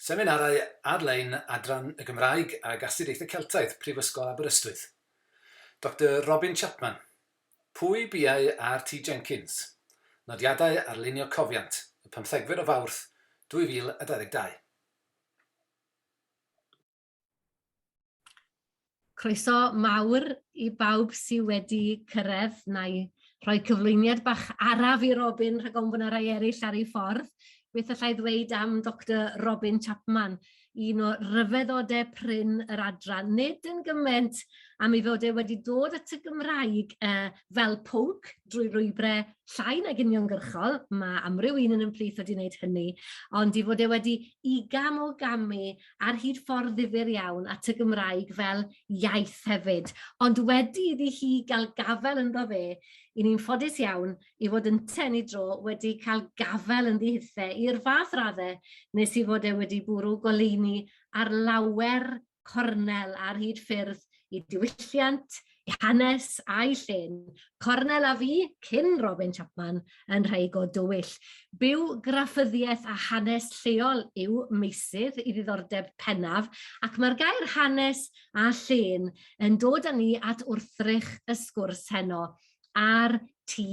Seminarau ar-lein Adran y Gymraeg ag Astudiaethau Celtaidd, Prifysgol Aberystwyth. Doctor Robin Chapman, Pwy Biau RT Jenkins? Nodiadau ar Lunio Cofiant, y pymthegfed o Fawrth 2022. Croeso mawr i bawb sydd wedi cyrraedd. Na i rhoi cyflwyniad bach araf i Robin rhag ofn bod yna rai eraill ar ei ffordd. Beth allai ddweud am Doctor Robin Chapman, un o ryfeddodau prin yr adran, nid yn gymaint am ei fod e wedi dod at y Gymraeg uh, fel pwnc drwy rwybrau llai nag uniongyrchol, mae amryw un yn ymplith wedi wneud hynny, ond i fod e wedi i gam o gamu ar hyd ffordd ddifyr iawn at y Gymraeg fel iaith hefyd. Ond wedi iddi hi gael gafel ynddo fe, i ni'n ffodus iawn i fod yn ten i dro wedi cael gafel yn ddihithe i'r fath raddau nes i fod e wedi bwrw goleuni ar lawer cornel ar hyd ffyrdd i diwylliant, ei hanes a'i llun, Cornel a fi, cyn Robin Chapman, yn rhai go dywyll. Byw graffyddiaeth a hanes lleol yw meysydd i ddiddordeb pennaf, ac mae'r gair hanes a llun yn dod â ni at wrthrych y sgwrs heno a'r T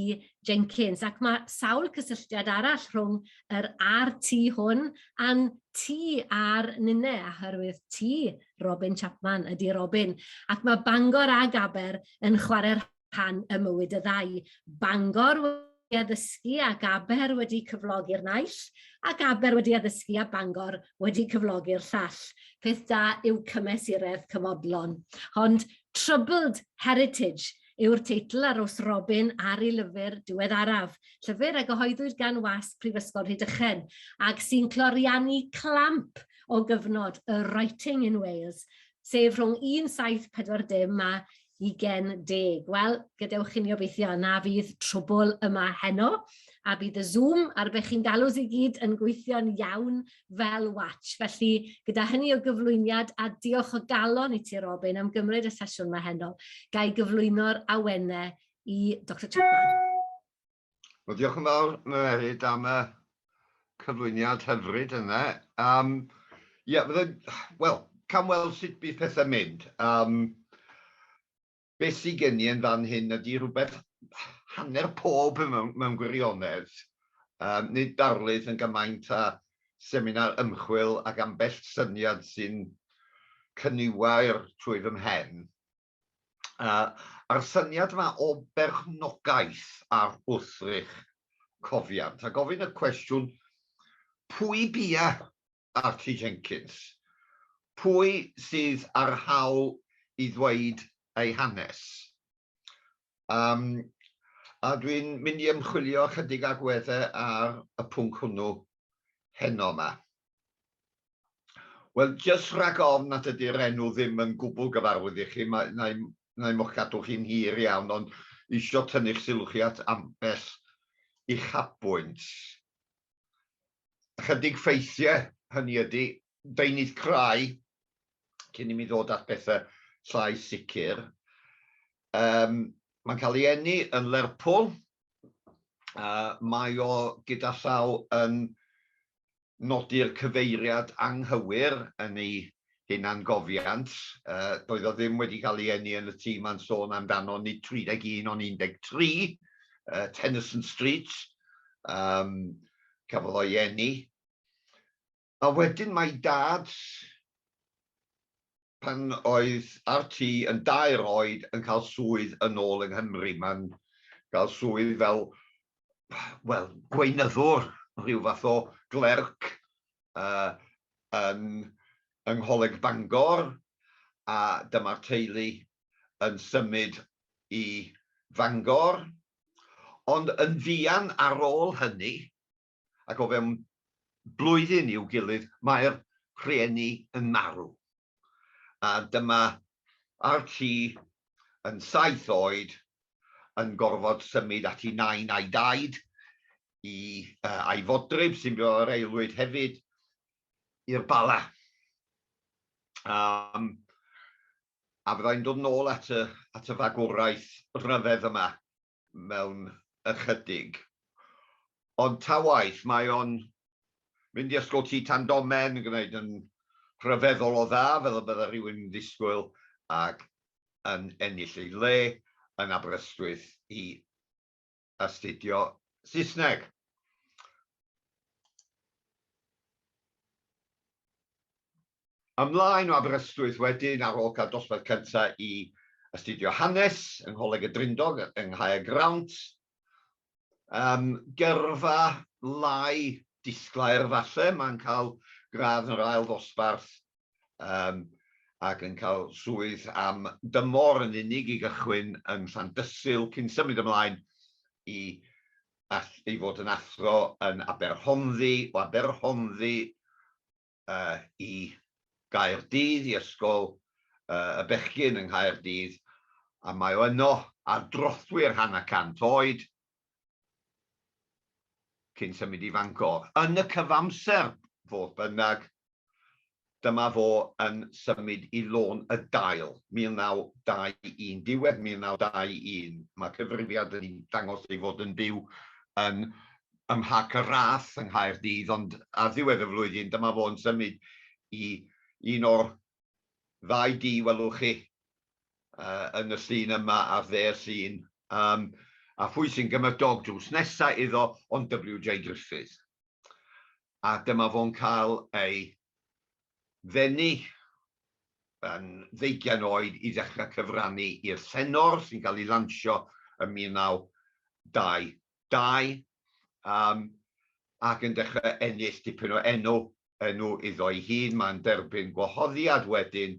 Jenkins, ac mae sawl cysylltiad arall rhwng yr RT hwn a'n T a'r Nine, a hyrwydd T Robin Chapman ydy Robin. Ac mae Bangor a Gaber yn chwarae rhan y mywyd y ddau. Bangor wedi addysgu a Gaber wedi cyflogi'r naill, a Gaber wedi addysgu a Bangor wedi cyflogi'r llall. Peth da yw cymesuredd cymodlon. Ond troubled heritage yw'r teitl ar os Robin ar ei lyfr diweddaraf, llyfr a gyhoeddwyd gan wasg Prifysgol Rhydychen, ac sy'n cloriannu clamp o gyfnod y 'Writing in Wales', sef rhwng 1740 a ugen deg. Wel, gadewch i ni obeithio na fydd trwbl yma heno, a bydd y Zoom, ar be chi'n galw i gyd, yn gweithio'n iawn fel watch. Felly, gyda hynny o gyflwyniad, a diolch o galon i ti Robin am gymryd y sesiwn mae heno, ga i gyflwyno'r awennau i Dr Chapman. Wel, diolch yn fawr, Mererid, am y cyflwyniad hyfryd yna. Um, yeah, wel, cam weld sut bydd pethau'n mynd. Um, Beth sy gen i yn fan hyn ydi rhywbeth hanner pob mewn gwirionedd, yym nid darlith yn gymaint â seminar ymchwil ac ambell syniad sy'n cyniwair trwy fy mhen. A'r syniad yma o berchnogaeth ar wthrych cofiant a gofyn y cwestiwn pwy bia Archie Jenkins, pwy sydd â'r hawl i ddweud ei hanes? Yym, a dwi'n mynd i ymchwilio ychydig agweddau ar y pwnc hwnnw heno yma. Wel, jyst rhag ofn nad ydy'r enw ddim yn gwbl gyfarwydd i chi, mae, na i, na i mo'ch cadw chi'n hir iawn, ond eisiau tynnu'ch sylw chi at ambell uchafbwynt. ychydig ffeithiau, hynny ydy, deunydd crai, cyn i mi ddod at bethau llai sicr. Um, mae'n cael ei enni yn Lerpwl, a mae o gyda llaw yn nodi'r cyfeiriad anghywir yn ei hunangofiant, doedd o ddim wedi cael ei eni yn y tŷ mae'n sôn amdano, nid 31 ond 13, Tennyson Street, um, cafodd o'i eni. A wedyn mae dad, pan oedd RT yn dair oed, yn cael swydd yn ôl yng Nghymru. Mae'n cael swydd fel, wel, gweinyddwr, rhyw fath o glerc yn yng Ngholeg Bangor a dyma'r teulu yn symud i Fangor. Ond yn fuan ar ôl hynny, ac o fewn blwyddyn i'w gilydd, mae'r rhieni yn marw. A dyma Archie yn saith oed yn gorfod symud at ei nain a'i daid i uh, a'i fodryb sy'n byw ar aelwyd hefyd i'r bala. Um, a fyddai'n dod nôl at y, at y fagwraeth rhyfedd yma mewn ychydig. Ond ta waith, mae o'n mynd i ysgol ti tan domen yn gwneud yn rhyfeddol o dda, fel y bydda rhywun yn ddisgwyl, ac yn ennill ei le yn Aberystwyth i astudio Saesneg. Ymlaen o Aberystwyth wedyn ar ôl cael dosbarth cyntaf i astudio hanes yng Ngholeg y Drindod yng Nghaergrawnt. Um, gyrfa lai disglair falle, mae'n cael gradd yn yr ail ddosbarth um, ac yn cael swydd am dymor yn unig i gychwyn yn Llandysul cyn symud ymlaen i, i fod yn athro yn Aberhonddu, o Aberhonddu uh, i Gaerdydd, i ysgol uh, y bechgyn yng Nghaerdydd, a mae o yno ar drothwy'r hanner cant oed, cyn symud i Fangor. Yn y cyfamser, fodd bynnag, dyma fo yn symud i Lôn y Dail, 1921, diwedd 1921. Mae cyfrifiad yn dangos ei fod yn byw yn ym Mharc y Rath yng Nghaerdydd, ond ar ddiwedd y flwyddyn dyma fo yn symud i un o'r ddau dŷ welwch chi yn y llun yma ar dde'r llun, um, a phwy sy'n gymryd dog drws nesa iddo ond WJ Griffith. A dyma fo'n cael ei ddenu yn ddeugian oed i ddechrau cyfrannu i'r Llenor sy'n cael ei lansio yn 1922 um, ac yn dechrau ennill dipyn o enw, enw iddo ei hun. Mae'n derbyn gwahoddiad wedyn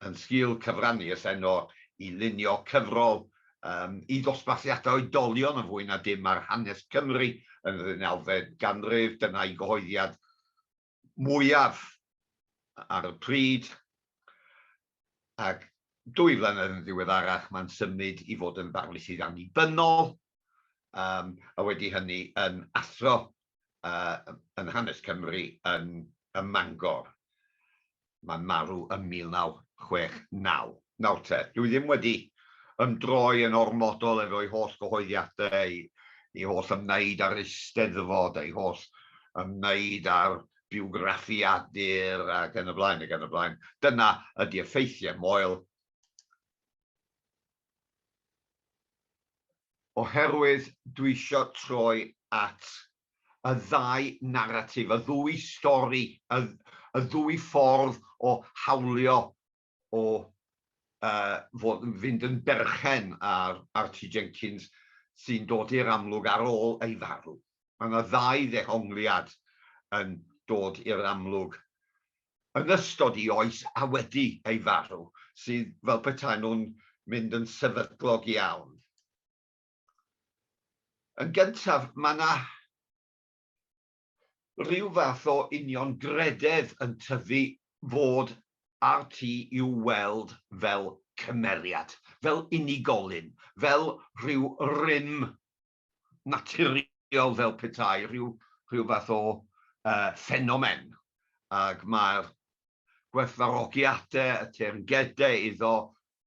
yn sgil cyfrannu y Llenor i lunio cyfrol um, i ddosbarthiadau oedolion yn fwy na dim ar hanes Cymru yn yr unawfed ganrif. Dyna'i gyhoeddiad mwyaf ar y pryd. Ac dwy flynedd yn ddiweddarach, mae'n symud i fod yn ddarlithydd annibynnol a wedi hynny yn athro yn hanes Cymru yn Mangor. Mae'n marw ym 1969. Nawr te, dw i ddim wedi ymdroi yn ormodol efo'i holl gyhoeddiadau, ei holl ymwneud â'r Eisteddfod, ei holl ymwneud â'r biwgraffiadur ac yn y blaen ac yn y blaen. Dyna ydi'r ffeithiau, Moel. oherwydd dwi isio troi at y ddau naratif, y ddwy stori, y, y ddwy ffordd o hawlio o uh, fod, fynd yn berchen ar Archie Jenkins sy'n dod i'r amlwg ar ôl ei farw. Mae yna ddau ddehongliad yn dod i'r amlwg yn ystod i oes a wedi ei farw, sydd fel petai nhw'n mynd yn sefydlog iawn. Yn gyntaf, mae yna rhyw fath o union grededd yn tyfu fod RT i'w weld fel cymeriad, fel unigolyn, fel rhyw rym naturiol fel petai rhyw rhyw fath o yy ffenomen ag mae'r gwerthfawrogiadau y teyrngedau iddo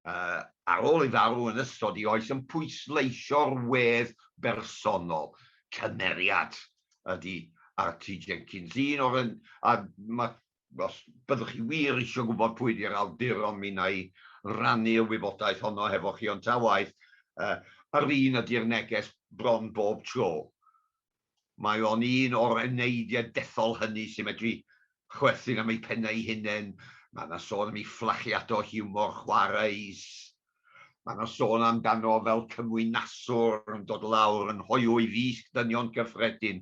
yy ar ôl ei farw yn ystod ei oes yn pwysleisio'r wedd bersonol. Cymeriad ydy Archie Jenkins, un o'r un a mae os byddwch chi wir eisiau gwybod pwy ydy'r awduron, mi wna i rannu'r wybodaeth honno hefo chi, ond ta waeth, yr un ydy'r neges bron bob tro. Mae o'n un o'r eneidiau dethol hynny sy'n medru chwerthin am eu pennau eu hunain, mae yna sôn am ei fflachiadau o hiwmor chwareus, mae yna sôn amdano fel cymwynaswr yn dod lawr yn hoyw i wisg dynion cyffredin,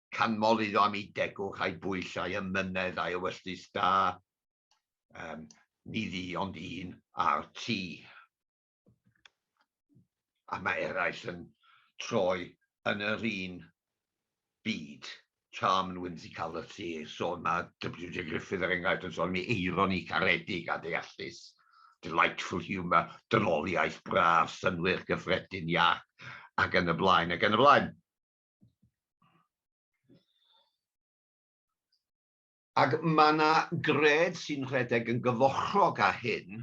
canmol iddo am ei degwch a'i bwyll a'i ymynedd a'i ewyllys da. Um, ni ddi ond un ar ti. A mae eraill yn troi yn yr un byd. Charm and whimsicality, so mae WJ Griffith er enghraifft yn sôn am ei eironi caredig a deallus, delightful humour, dynoliaeth braf, synwyr gyffredin iach, ac yn y blaen, ac yn y blaen. Ac mae yna gred sy'n rhedeg yn gyfochrog â hyn,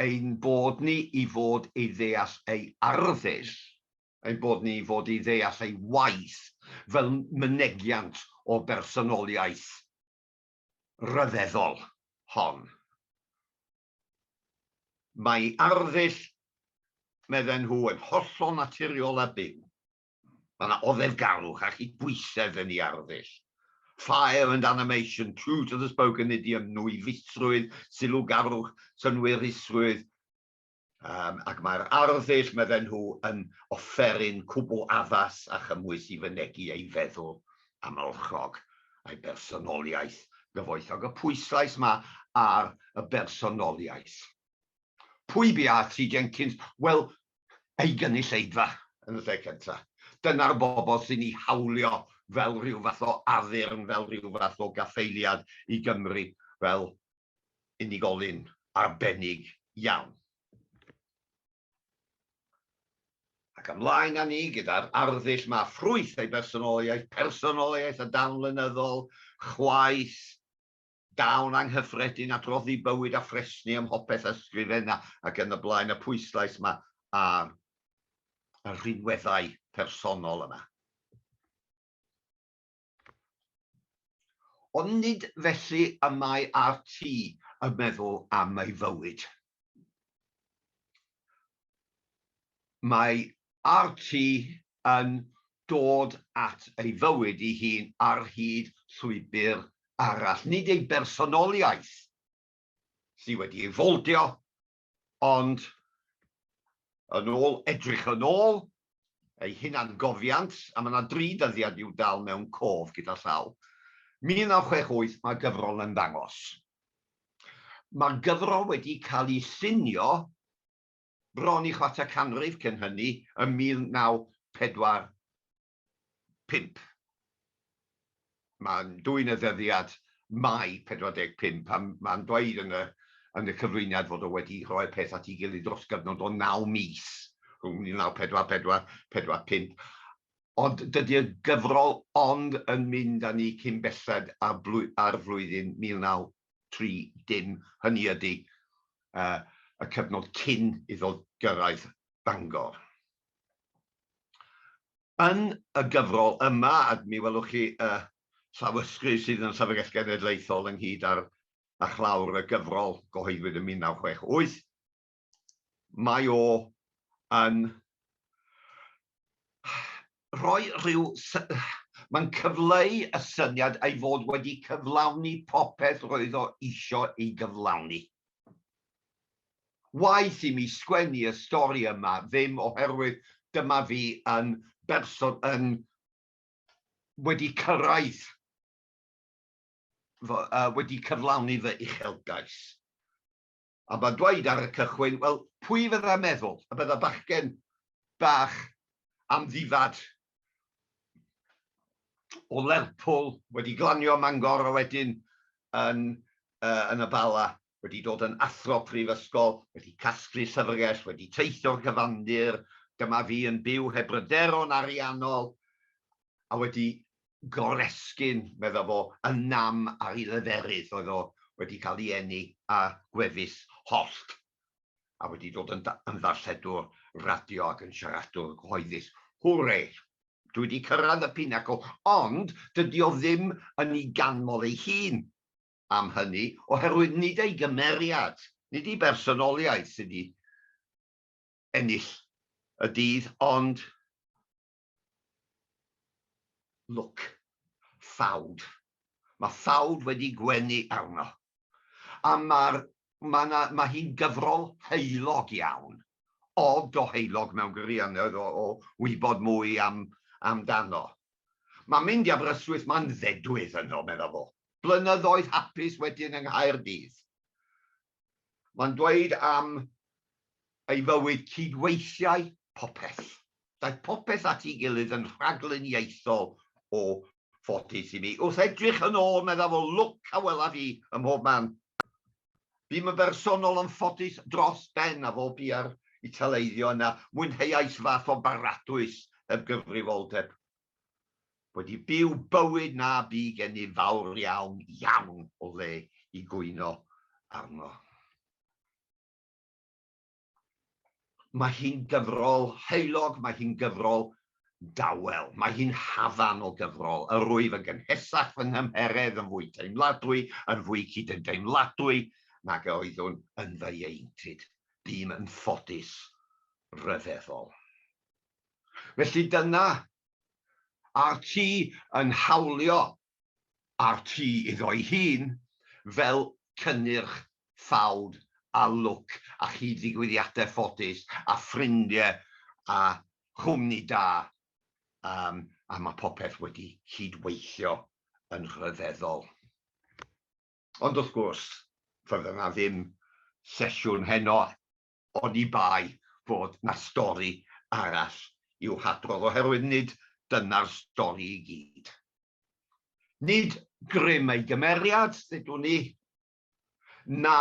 ein bod ni i fod ei ddeall ei arddull, ein bod ni i fod i ddeall ei waith fel mynegiant o bersonoliaeth ryfeddol hon. Mae arddull, medden nhw, yn hollol naturiol a byw. Mae yna oddefgarwch a chydbwysedd yn ei arddull. Fire and animation, true to the spoken idiom, nwyddisrwydd, sylwgarwch, synnwyrusrwydd, um, ac mae'r arddull, medden nhw, yn offeryn cwbl addas a chymwys i fynegi ei feddwl amlchog a'i bersonoliaeth gyfoethog, y pwyslais ma ar y bersonoliaeth. Pwy bia Tri Jenkins? Wel, ei gynulleidfa yn y lle cynta. Dyna'r bobl sy'n ei hawlio fel rhyw fath o addurn, fel rhyw fath o gaffaeliad i Gymru fel unigolyn arbennig iawn. Ac ymlaen â ni gyda'r arddull 'ma, ffrwyth ei bersonoliaeth, personoliaeth a dawn lenyddol, chwaeth, dawn anghyffredin at roddi bywyd a phresni ym mhopeth, ysgrifenna ac yn y blaen, y pwyslais 'ma ar y rhinweddau personol yma. Ond nid felly y mae RT yn meddwl am ei fywyd. Mae RT yn dod at ei fywyd ei hun ar hyd llwybr arall, nid ei bersonoliaeth sydd wedi ei foldio Ond, yn ôl edrych yn ôl, eu hunangofiant, a mae yna dri dyddiad i'w dal mewn cof gyda llaw, 1968, mae'r gyfrol yn ymddangos. Mae'r gyfrol wedi cael ei llunio bron i chwarter canrif cyn hynny, ym 1940. 45. Mae'n dwyn y ddyddiad Mai 45 pan mae'n dweud yn y yn y cyflwyniad fod o wedi rhoi'r peth at ei gilydd dros gyfnod o naw mis, rhwng 1944, 45, ond dydy'r gyfrol ond yn mynd â ni cyn belled â'r blwy â'r flwyddyn 1930, hynny ydy, y y cyfnod cyn iddo gyrraedd Bangor. Yn y gyfrol yma, a mi welwch chi y llawysgrif sydd yn y Llyfrgell Genedlaethol ynghyd â'r a chlawr y gyfrol, gyhoeddwyd yn 1968, mae o yn rhoi rhyw... mae'n cyfleu y syniad ei fod wedi cyflawni popeth roedd o eisiau ei gyflawni. waeth i mi sgwennu y stori yma ddim oherwydd dyma fi yn berson yn wedi cyrraedd fy, uh, wedi cyflawni fy uchelgais. A mae'n dweud ar y cychwyn, wel, pwy fydda meddwl y bydda bachgen bach am ddifad o Lerpwl wedi glanio Mangor a wedyn yn, uh, yn y Bala wedi dod yn athro prifysgol, wedi casglu llyfrgell, wedi teithio'r cyfandir, dyma fi yn byw heb bryderon ariannol, a wedi goresgyn, medda fo, y nam ar ei leferydd, oedd o wedi cael ei eni â gwefus hollt, a wedi dod yn ddarlledwr radio ac yn siaradwr cyhoeddus. Hwre! Dwi 'di cyrraedd y pinacl, ond dydi o ddim yn ei ganmol ei hun. am hynny, oherwydd nid ei gymeriad, nid ei bersonoliaeth sydd wedi ennill y dydd, ond lwc ffawd. Mae ffawd wedi gwenu arno. A mae'r, mae 'na, mae hi'n gyfrol heulog iawn, od o heulog mewn gwirionedd o, o wybod mwy am, amdano. Mae mynd i Aberystwyth, mae'n ddedwydd yno, medda fo. Blynyddoedd hapus wedyn yng Nghaerdydd. Mae'n dweud am ei fywyd cydweithiau popeth. Daeth popeth at ei gilydd yn rhagluniaethol o ffodus i mi. Wrth edrych yn ôl, medda fo, lwc a welaf i ym mhob man. Bûm yn bersonol yn ffodus dros ben a fo bia'r Italeiddio yna mwynheuais fath o baradwys heb gyfrifoldeb. Wedi byw bywyd na bu gennyf fawr iawn, iawn o le i gwyno arno. Mae hi'n gyfrol heulog, mae hi'n gyfrol dawel, mae hi'n hafan o gyfrol. Yr wyf yn gynhesach fy nghymheredd, yn fwy teimladwy, yn fwy cydymdeimladwy nag a oeddwn yn fy ieuenctid. Bûm yn ffodus, rhyfeddol. Felly dyna RT yn hawlio a'r tŷ iddo'i hun fel cynnyrch ffawd a lwc a chyd ddigwyddiadau ffodus a ffrindiau a chwmni da um, a mae popeth wedi cyd-weithio yn rhyfeddol. Ond wrth gwrs, fydda 'na ddim sesiwn heno oni bai fod 'na stori arall i'w hadrodd, oherwydd nid dyna'r stori i gyd. Nid grym ei gymeriad, ddedwn i, na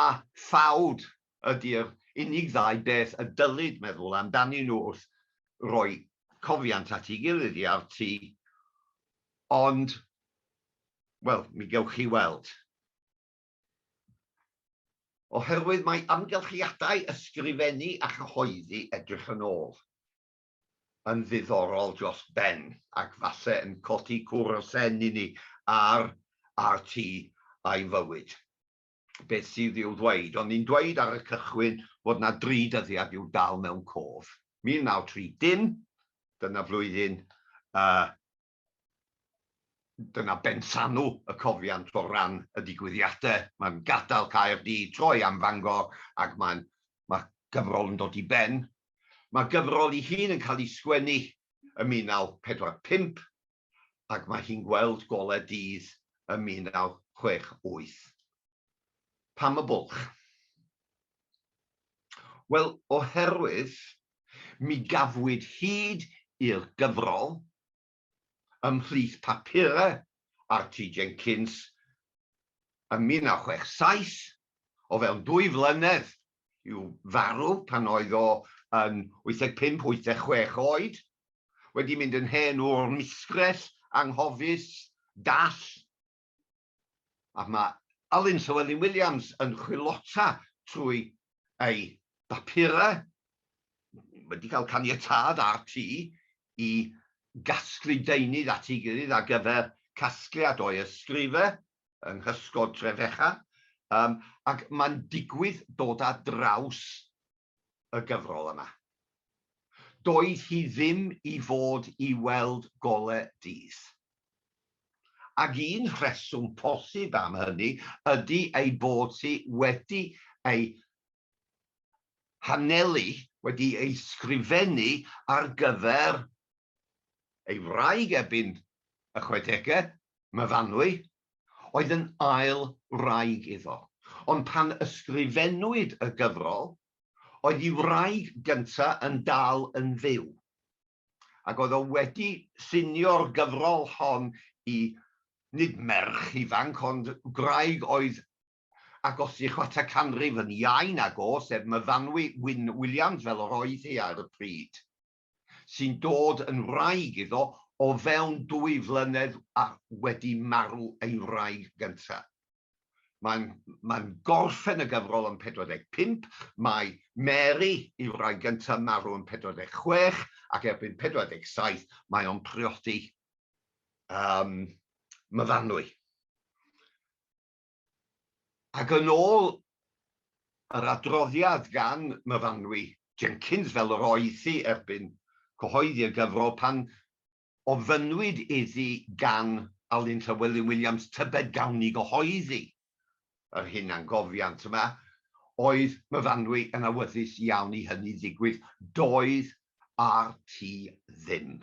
ffawd ydi'r unig ddau beth y dylid meddwl amdanyn nhw wrth roi cofiant at ei gilydd i RT, ond, wel, mi gewch chi weld. Oherwydd mae amgylchiadau ysgrifennu a chyhoeddi edrych yn ôl yn ddiddorol dros ben ac falle yn codi cwr o sen i ni ar RT a'i fywyd. Beth sydd i'w ddweud? O'n i'n dweud ar y cychwyn fod 'na dri dyddiad i'w dal mewn cof. 1930, dyna flwyddyn y Dyna benllanw y cofiant o ran y digwyddiadau. Mae'n gadael Caerdydd, troi am Fangor ac mae'n mae'r gyfrol yn dod i ben. Mae'r gyfrol ei hun yn cael ei sgwennu ym 1945 ac mae hi'n gweld golau dydd ym 1968. Pam y bwlch? Wel, oherwydd Mi gafwyd hyd i'r gyfrol ymhlith papurau RT Jenkins ym 1967, o fewn dwy flynedd i'w farw pan oedd o yn 85, 86 oed, wedi mynd yn hen wr misgrell, anghofus, dall. a mae Alun Llywelyn Williams yn chwilota trwy ei bapurau, wedi cael caniatâd RT i gasglu deunydd at ei gilydd ar gyfer casgliad o'i ysgrifau yng nghysgod Trefechan, ac mae'n digwydd dod ar draws y gyfrol yma. Doedd hi ddim i fod i weld gole dydd. Ac un rheswm posib am hynny ydy ei bod hi wedi ei hanelu, wedi ei sgrifennu ar gyfer ei wraig erbyn y chwedegau, Myfanwy, oedd yn ail wraig iddo, ond pan ysgrifennwyd y gyfrol, oedd ei wraig gyntaf yn dal yn fyw, ac oedd o wedi llunio'r gyfrol hon i, nid merch ifanc, ond gwraig oedd ag othi chwarter canrif yn iau nag o, sef Myfanwy Wyn Williams, fel yr oedd hi ar y pryd. sy'n dod yn wraig iddo o fewn dwy flynedd wedi marw ei wraig gyntaf. Mae'n mae'n gorffen y gyfrol yn 45, mae Mary, ei wraig gyntaf, marw yn 46 ac erbyn 47 mae o'n priodi um, myfanwy. Ac yn ôl yr adroddiad gan Myfanwy Jenkins, fel yr oedd hi erbyn cyhoeddi y gyfrol, pan ofynnwyd iddi gan Alun Llywelyn Williams tybed gawn ni gyhoeddi yr hunangofiant yma, oedd Myfanwy yn awyddus iawn i hynny ddigwydd. Doedd RT ddim.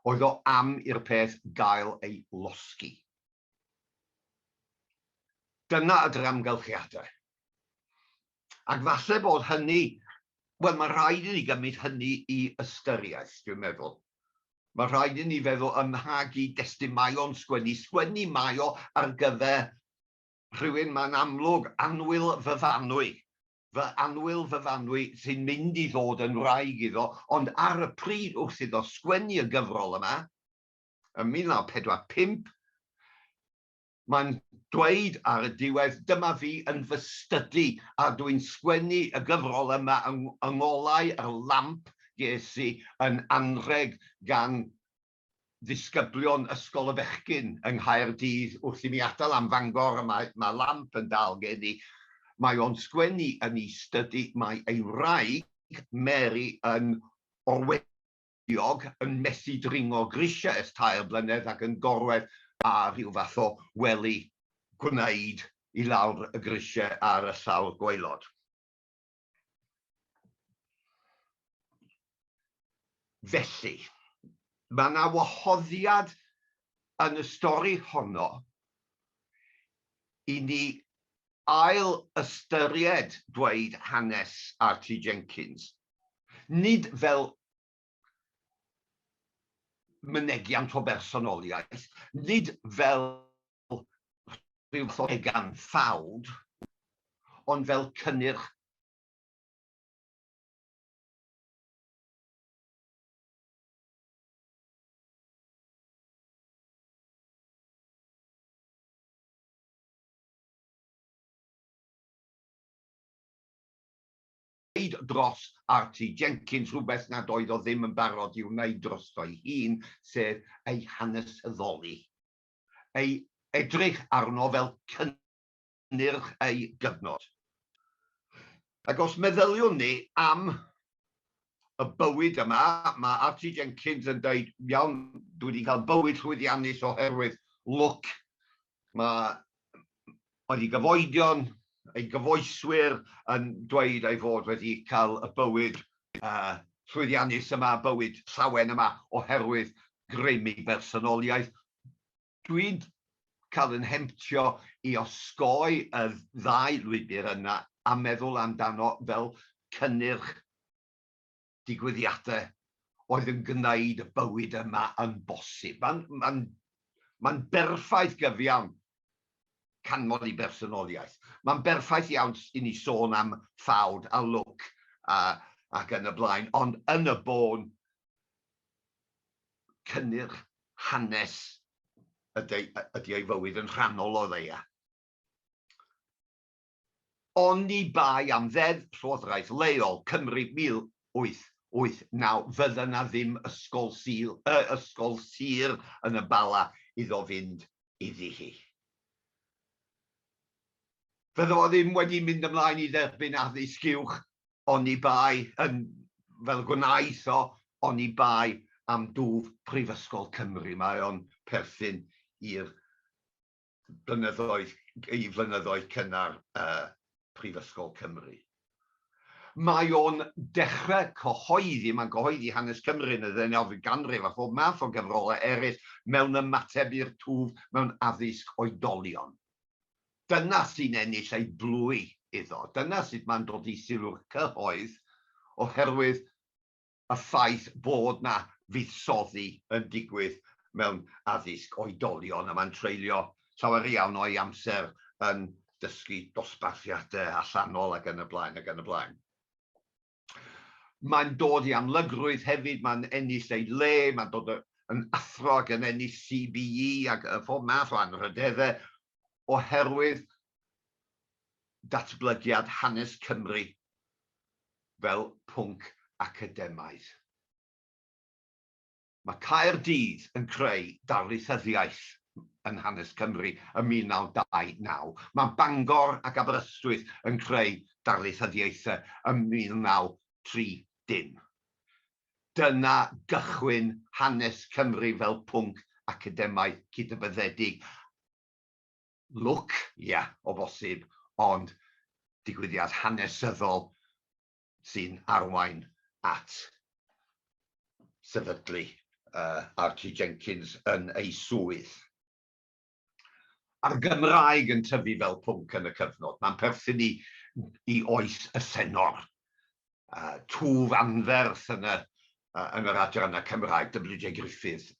Oedd o am i'r peth gael ei losgi. Dyna ydy'r amgylchiadau. Ac falle bod hynny, wel, mae'n rhaid i ni gymryd hynny i ystyriaeth, dwi'n meddwl. Mae'n rhaid i ni feddwl ym mha gyd-destun mae o'n sgwennu. Sgwennu mae o ar gyfer rhywun, mae'n amlwg, annwyl fyfanwy, fy annwyl fyfanwy sy'n mynd i ddod yn wraig iddo, ond ar y pryd wrth iddo sgwennu y gyfrol yma, yn 1945, mae'n dweud ar y diwedd, Dyma fi yn fy stydi, a dw i'n sgwennu y gyfrol yma yng ngolau yr lamp ges i yn anrheg gan ddisgyblion Ysgol y Fechgyn yng Nghaerdydd wrth i mi atal am Fangor, a mae mae lamp yn dal gen i. Mae o'n sgwennu yn 'i stydi, mae ei wraig, Mary, yn orweddus. Diog yn methu dringo grisiau ers tair blynedd ac yn gorwedd ar rhyw fath o wely gwneud i lawr y grisiau ar y llawr gwaelod. Felly, mae yna wahoddiad yn y stori honno i ni ail-ystyried dweud hanes Archie Jenkins nid fel mynegiant o bersonoliaeth, nid fel rhyw fath o egan ffawd, ond fel cynnyrch. wneud dros Archie Jenkins rhywbeth nad oedd o ddim yn barod i'w wneud drosto'i hun, sef ei hanesyddoli, ei edrych arno fel cynnyrch ei gyfnod. Ac os meddyliwn ni am y bywyd yma, mae Archie Jenkins yn dweud, 'Iawn, dwi wedi cael bywyd llwyddiannus oherwydd lwc Mae wedi gyfoedion, ei gyfoeswyr yn dweud ei fod wedi cael y bywyd llwyddiannus yma, bywyd llawen yma oherwydd grym ei bersonoliaeth. Dwi'n cael yn hemtio i osgoi y ddau lwybr yna a meddwl amdano fel cynnyrch. digwyddiadau oedd yn gwneud y bywyd yma yn bosib. Mae'n ma ma berffaith gyfiawn canmol i bersonoliaeth. Mae'n berffaith iawn i ni sôn am ffawd a lwc a, ac yn y blaen, ond yn y bôn, cynnyrch hanes ydy, ydy ei fywyd yn rhannol o ddeia. Oni bai am Ddeddf Llywodraeth Leol Cymru 1889 fydda 'na ddim ysgol Sul, yy, ysgol sir yn y Bala iddo fynd iddi hi. Fydda fo ddim wedi mynd ymlaen i dderbyn addysg uwch oni bai, yn, fel y gwnaeth o, oni bai am dwf Prifysgol Cymru. Mae o'n perthyn i'r blynyddoedd, ei flynyddoedd cynnar ym Mhrifysgol Cymru. Mae o'n dechre cyhoeddi, mae'n cyhoeddi hanes Cymru yn y ddeunawfed ganrif a phob math o gyfrolau eraill mewn ymateb i'r twf mewn addysg oedolion. Dyna sy'n ennill ei blwy iddo, dyna sut mae'n dod i sylw'r cyhoedd oherwydd y ffaith bod 'na fuddsoddi yn digwydd mewn addysg oedolion, a mae'n treulio llawer iawn o'i amser yn dysgu dosbarthiadau allanol ac yn y blaen ac yn y blaen. Mae'n dod i amlygrwydd hefyd, mae'n ennill ei le, mae'n dod yn athro ac yn ennill CBE a phob math o anrhydeddau oherwydd datblygiad hanes Cymru fel pwnc academaidd. Mae Caerdydd yn creu darlithyddiaeth yn hanes Cymru ym 1929, mae Bangor ac Aberystwyth yn creu darlithyddiaethau ym 1930. Dyna gychwyn hanes Cymru fel pwnc academaidd cydnabyddedig. lwc, ia, o bosib, ond digwyddiad hanesyddol sy'n arwain at sefydlu Archie Jenkins yn ei swydd. A'r Gymraeg yn tyfu fel pwnc yn y cyfnod, mae'n perthyn i oes y senor. twf anferth yn yr adrannau Cymraeg, WJ Griffith,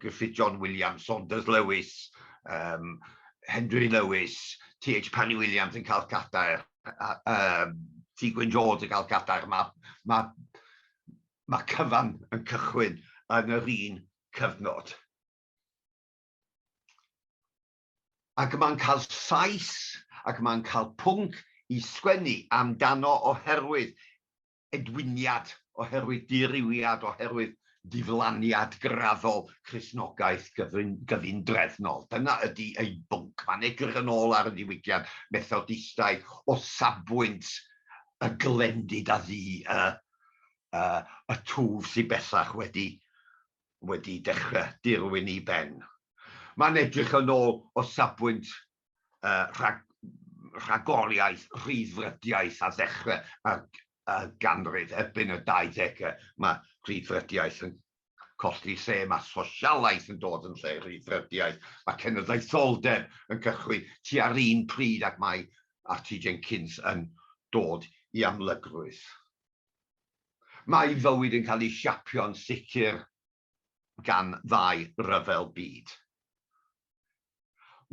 Griffith John Williams, Saunders Lewis, Henry Lewis, TH Parry Williams yn cael cadair, T Gwyn Jones yn cael cadair, mae cyfan yn cychwyn yn yr un cyfnod. ac mae'n cael llais ac mae'n cael pwnc i sgwennu amdano oherwydd edwiniad, oherwydd dirywiad, oherwydd diflaniad graddol Cristnogaeth gyfundrefnol. Dyna ydi ei bwnc. Mae'n edrych yn ôl ar y ddiwygiad Methodistaidd o safbwynt y glendid a fu y twf sydd bellach wedi wedi dechrau dirwyn i ben. Mae'n edrych yn ôl o safbwynt rhagoriaeth, rhyddfrydiaeth a ddechrau y ganrif. Erbyn y 20au mae rhyddfrydiaeth yn colli lle, mae sosialaeth yn dod yn lle rhyddfrydiaeth, mae cenedlaetholdeb yn cychwyn tua'r un pryd ac mae Archie Jenkins yn dod i amlygrwydd. Mae ei fywyd yn cael ei siapio'n sicr gan ddau ryfel byd.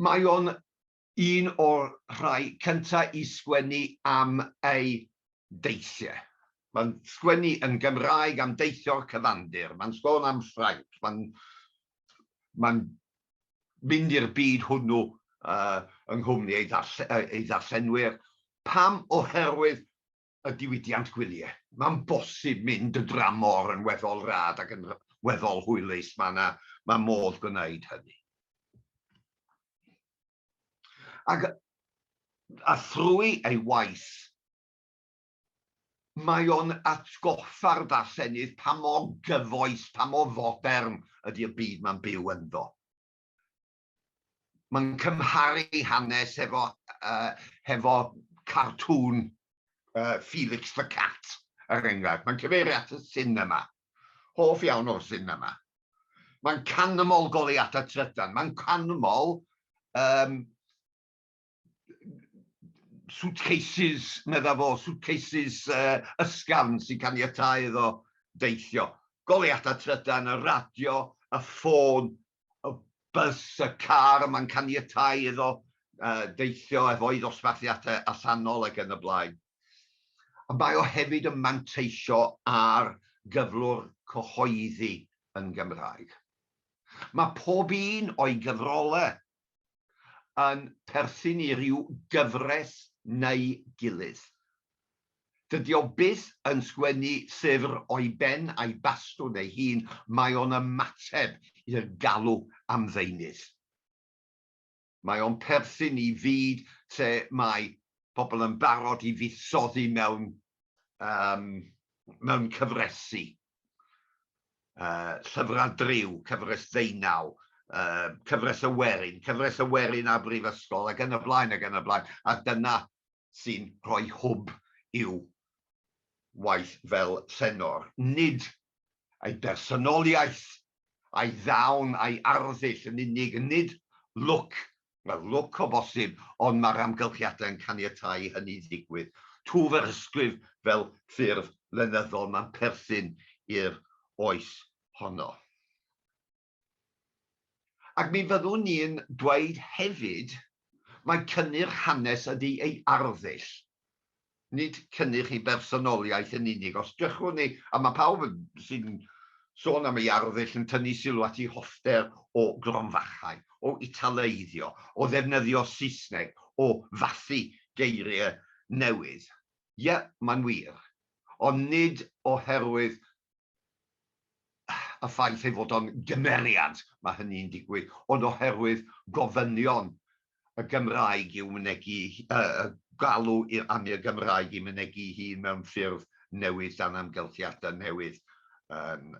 Mae o'n un o'r rhai cyntaf i sgwennu am ei deithiau. Mae'n sgwennu yn Gymraeg am deithio'r cyfandir, mae'n sôn am Ffrainc, mae'n mae'n mynd i'r byd hwnnw yng nghwmni ei ddarllenwyr. Pam? Oherwydd y diwydiant gwyliau. Mae'n bosib mynd y dramor yn weddol rad ac yn weddol hwylus, mae yna mae modd gwneud hynny. Ac, a thrwy ei waith, mae o'n atgoffa'r darllenydd pa mor gyfoes, pa mor fodern ydy y byd mae'n byw ynddo. Mae'n cymharu hanes hefo cartŵn Felix the Cat, er enghraifft. Mae'n cyfeirio at y sinema. Hoff iawn o'r sinema. Mae'n canmol goleuadau trydan. Mae'n canmol suitcases, medda fo, suitcases uh, ysgafn sy'n caniatau iddo deithio. Goleuadau trydan, y radio, y ffôn, y bus, y car yma'n caniatau iddo uh, deithio efo'i ddosbarthiadau allanol ac yn y blaen. A mae o hefyd yn manteisio ar gyflwr cyhoeddi yn Gymraeg. Mae pob un o'i gyfrolau yn perthyn i ryw gyfres neu gilydd. Dydy o byth yn sgwennu llyfr o'i ben a'i bastwn ei hun, mae o'n ymateb i'r galw am ddeunydd. Mae o'n perthyn i fyd lle mae pobl yn barod i fuddsoddi mewn cyfresi. uh, llyfrau driw, cyfres ddeunaw, uh, cyfres y werin, cyfres y werin a brifysgol, ac yn y blaen, ac yn y blaen. A dyna sy'n rhoi hwb i'w waith fel llenor. Nid ei bersonoliaeth, a'i ddawn, a'i arddull yn unig, nid look Mae'r lwc o bosib, ond mae'r amgylchiadau yn caniatáu i hynny ddigwydd. Twf yr ysgrif fel ffurf lenyddol, mae'n perthyn i'r oes honno. Ac mi fyddwn ni'n dweud hefyd mai cynnyrch hanes ydy ei arddull. nid cynnych ei bersonoliaeth yn unig. Os drychwn ni, a mae pawb sy'n sôn am ei arddull yn tynnu sylw at ei hoffter o gronfachau, o Italeiddio, o ddefnyddio Saesneg, o fathu geiriau newydd. Ie, mae'n wir. Ond nid oherwydd y ffaith ei fod o'n gymeriad, mae hynny'n digwydd, ond oherwydd gofynion y Gymraeg i'w mynegi, y galw i'r Amir Gymraeg i mynegi'i hun mewn ffurf newydd dan amgylchiadau newydd yn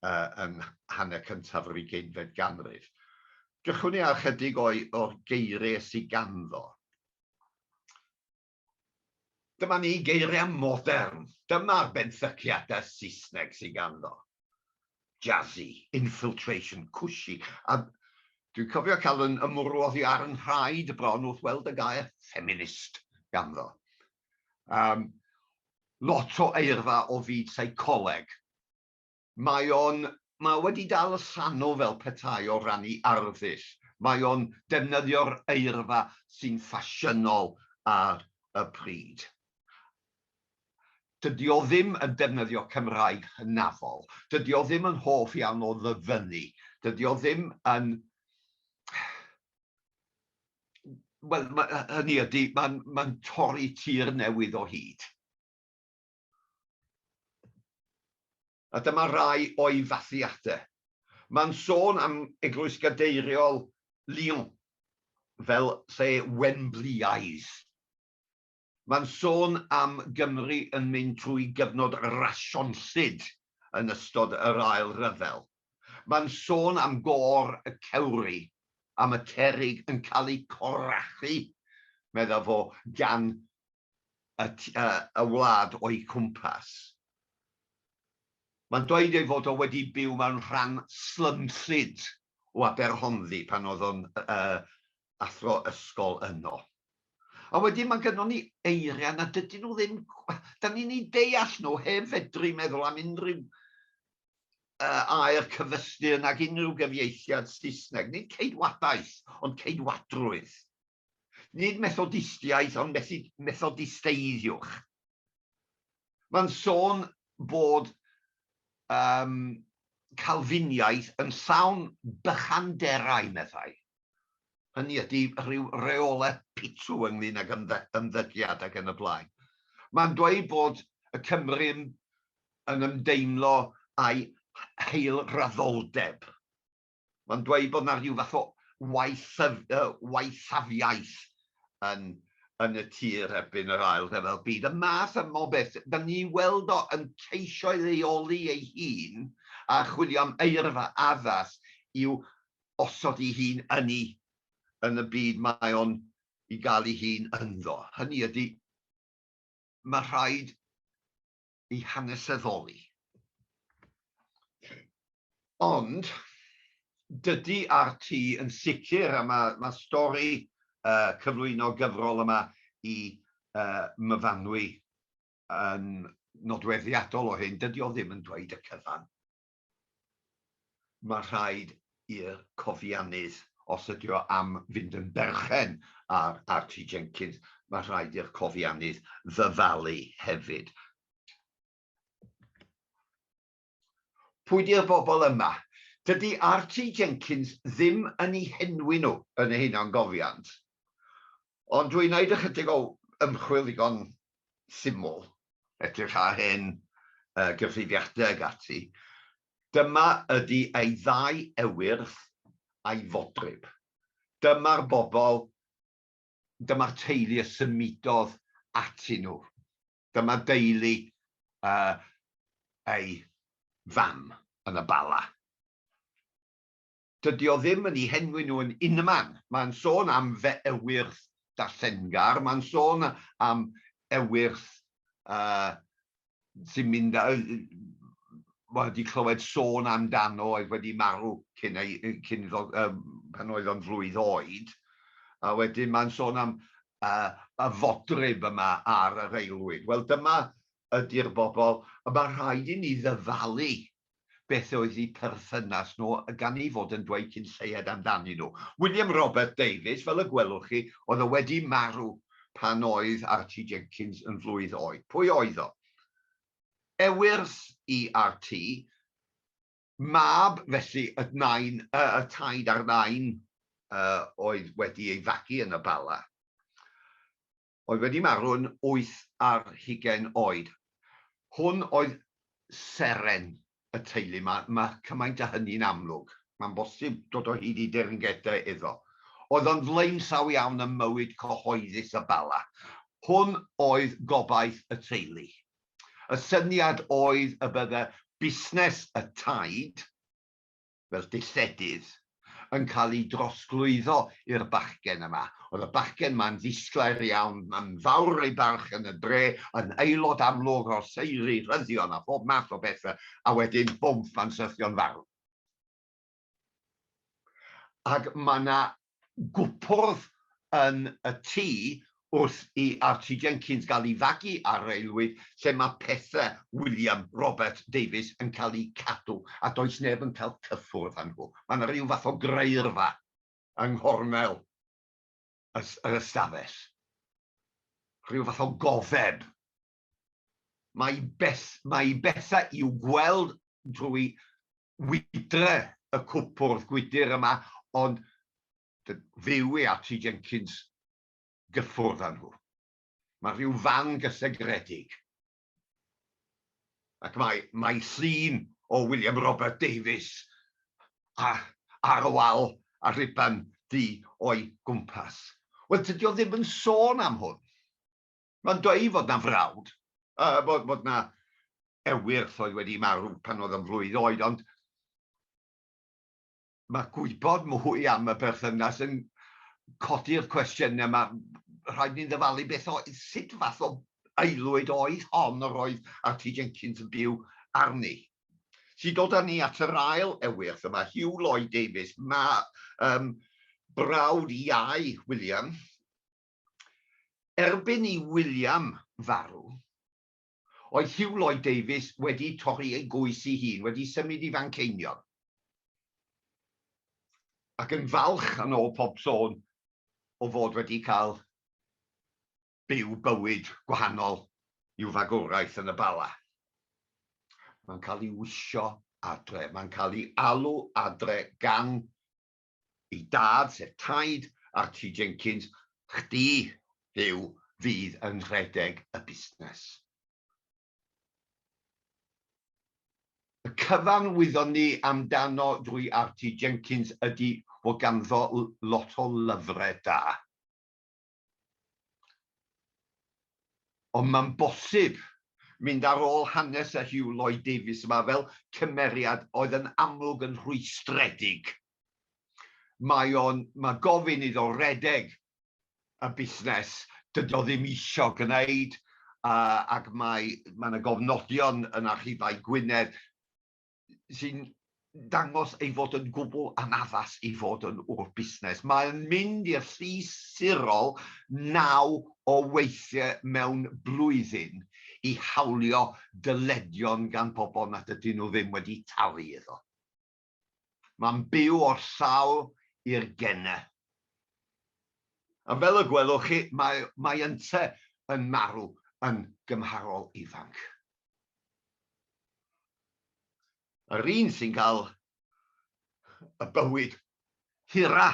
yn hanner cyntaf yr ugeinfed ganrif. Drychwn i ar ychydig o'r geiriau sy ganddo. Dyma ni, geiriau modern. Dyma'r benthyciadau Saesneg sydd ganddo. Jazzy, infiltration, cushy, a dwi'n cofio cael fy ymwrw oddi ar 'y nhraed bron wrth weld y gair 'feminist' ganddo. Yym, lot o eirfa o fyd seicoleg. Mae o'n, mae o wedi dal y sano fel petai o ran 'i arddull. Mae o'n defnyddio'r eirfa sy'n ffasiynol ar y pryd. Dydi o ddim yn defnyddio Cymraeg hynafol. Dydi o ddim yn hoff iawn o ddyfynnu. Dydi o ddim yn... Wel, hynny ydi, mae'n torri tir newydd o hyd. A dyma rai o'i fathiadau. Mae'n sôn am Eglwys Gadeiriol Lyon fel lle Wembleaidd. Mae'n sôn am Gymru yn mynd trwy gyfnod rasionllyd yn ystod yr Ail Ryfel. Mae'n sôn am Gôr y Cewri, am y cerrig yn cael eu corachu, medda fo, gan y tu allan y wlad o'u cwmpas. Mae'n dweud ei fod o wedi byw mewn rhan slymllyd o Aberhonddu pan oedd o'n athro ysgol yno. A wedyn mae gynnon ni eiriau na dydyn nhw ddim, 'dan ni'n eu deall nhw heb fedru meddwl am unrhyw air cyfystyr nag unrhyw gyfieithiad Saesneg, nid ceidwadaeth ond ceidwadrwydd. Nid Methodistiaeth, ond Methodisteiddwch. Mae'n sôn bod um, Calfiniaeth yn llawn bychanderau, meddai. Hynny ydy rhyw reolau pitw ynglyn ag ymddygiad ac yn y blaen. Mae'n dweud bod y Cymru yn ymdeimlo a'i heilraddoldeb. Mae'n dweud bod 'na rhyw fath o waethafiaeth yn yn y tir erbyn yr Ail Ryfel Byd. Y math yma o beth, 'dan ni weld o yn ceisio ei leoli ei hun a chwilio am eirfa addas i'w osod ei hun yn i yn y byd mae o'n i gael ei hun ynddo. Hynny ydi, ma' rhaid ei hanesyddoli. Ond, dydy RT yn sicr, a mae, mae stori uh, cyflwyno gyfrol yma i uh, myfanwy yn nodweddiadol o hyn, dydy o ddim yn dweud y cyfan. Mae rhaid i'r cofiannydd, os ydy o am fynd yn berchen ar RT Jenkins, mae rhaid i'r cofiannydd ddyfalu hefyd. Pwy di'r bobl yma? Dydy RT Jenkins ddim yn eu henwi nhw yn y hunangofiant, ond dwi'n wneud ychydig o ymchwil ddigon syml, edrych ar hen gyfrifiadau ag ati, dyma ydi ei ddau ewyrth a'i fodryb. Dyma'r bobl, dyma'r teulu y symudodd atyn nhw. Dyma deulu ei fam yn y Bala. Dydy o ddim yn 'u henwi nhw yn unman. Mae'n sôn am fy ewyrth darllengar, mae'n sôn am ewyrth sy'n mynd a... wel, 'di clywed sôn amdano oedd wedi marw cyn ei... cyn iddo... pan oedd o'n flwydd oed. A wedyn mae'n sôn am y fodryb yma ar yr aelwyd. Wel, dyma ydy'r bobl y mae rhaid i ni ddyfalu beth oedd eu perthynas nhw gan eu fod yn dweud cyn lleied amdanyn nhw. William Robert Davies, fel y gwelwch chi, oedd o wedi marw pan oedd RT Jenkins yn flwydd oed. Pwy oedd o? Ewyrs i RT, mab felly y nain, y taid a'r nain oedd wedi ei fagu yn y Bala. oedd wedi marw'n wyth ar hugain oed. Hwn oedd seren y teulu. Mae, mae cymaint â hynny'n amlwg. Mae'n bosib dod o hyd i dirngedau iddo. Oedd o'n flaenllaw iawn ym mywyd cyhoeddus y Bala. Hwn oedd gobaith y teulu. Y syniad oedd y bydde busnes y taid, fel dilledydd, yn cael eu drosglwyddo i'r bachgen yma. Oedd y bachgen yma'n ddisglair iawn, yn fawr ei barch yn y dre, yn aelod amlwg o'r seiri, rhyddion a phob math o bethe, a wedyn bwmp, mae'n syrthio'n farw. Ac mae 'na gwpwrdd yn y tŷ wrth i Archie Jenkins gael ei fagu ar railwyd lle mae pethau William Robert Davies yn cael eu cadw a does neb yn cael cyffwrdd â nhw. Mae yna ryw fath o graerfa yng nghornel yr ystafell, rhyw fath o gofeb Mae i beth, mae i bethau i'w gweld drwy wydre y cwpwrdd gwydr yma, ond fyw i Archie Jenkins gyffwrdd â nhw. Mae rhyw fan gysegredig. Ac mae, mae llun o William Robert Davies a, ar y wal a rhuban du o'i gwmpas. Wel, tydi o ddim yn sôn am hwn. Mae'n dweud fod 'na frawd, bod 'na ewyrth oedd wedi marw pan oedd o'n flwydd oed, ond mae gwybod mwy am y berthynas yn codi'r cwestiynau, mae rhaid ni ddyfalu beth oedd, sut fath o aelwyd oedd hon yr oedd Archie Jenkins yn byw arni. Sy'n dod â ni at yr ail ewyrth yma, Hugh Lloyd Davies, mae um, brawd iau William, Erbyn i William farw, oedd Hugh Lloyd Davies wedi torri ei goes ei hun, wedi symud i Fanceinion, ac yn falch yn ôl pob sôn o fod wedi cael byw bywyd gwahanol i'w fagwraeth yn y Bala. Mae'n cael ei wisio adre, mae'n cael ei alw adre gan Ei dad, sef taid Archie Jenkins, chdi, Huw, fydd yn rhedeg y busnes. Y cyfan wyddon ni amdano drwy Archie Jenkins ydi fod ganddo lot o lyfrau da. Ond mae'n bosib mynd ar ôl hanes y Huw Lloyd Davies yma fel cymeriad oedd yn amlwg yn rhwystredig. Mae o'n, mae gofyn iddo redeg y busnes dydy o ddim isio gwneud ac mae, mae 'na gofnodion yn archifau Gwynedd. sy'n dangos ei fod yn gwbl anaddas i fod yn ŵr busnes. Mae'n mynd i'r llys sirol naw o weithiau mewn blwyddyn i hawlio dyledion gan bobl nad ydyn nhw ddim wedi talu iddo. Mae'n byw o'r sawl i'r gennau. A fel y gwelwch chi, mae, mae ynte yn marw yn gymharol ifanc. Yr un sy'n cael y bywyd hira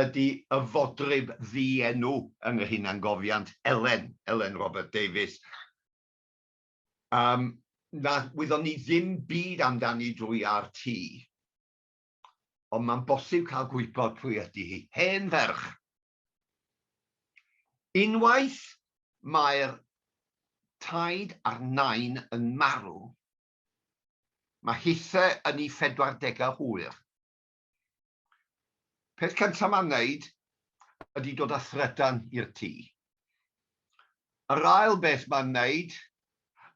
ydi y fodryb ddienw yn yr hunangofiant, Elen, Elen Robert Davies, yym, na wyddon ni ddim byd amdani drwy RT, ond mae'n bosib cael gwybod pwy ydi hi. Hen ferch, Unwaith mae'r taid a'r nain yn marw, mae hithe yn ei phedwardegau hwyr. Peth cyntaf mae'n wneud ydy dod â thrydan i'r tŷ. Yr ail beth mae'n wneud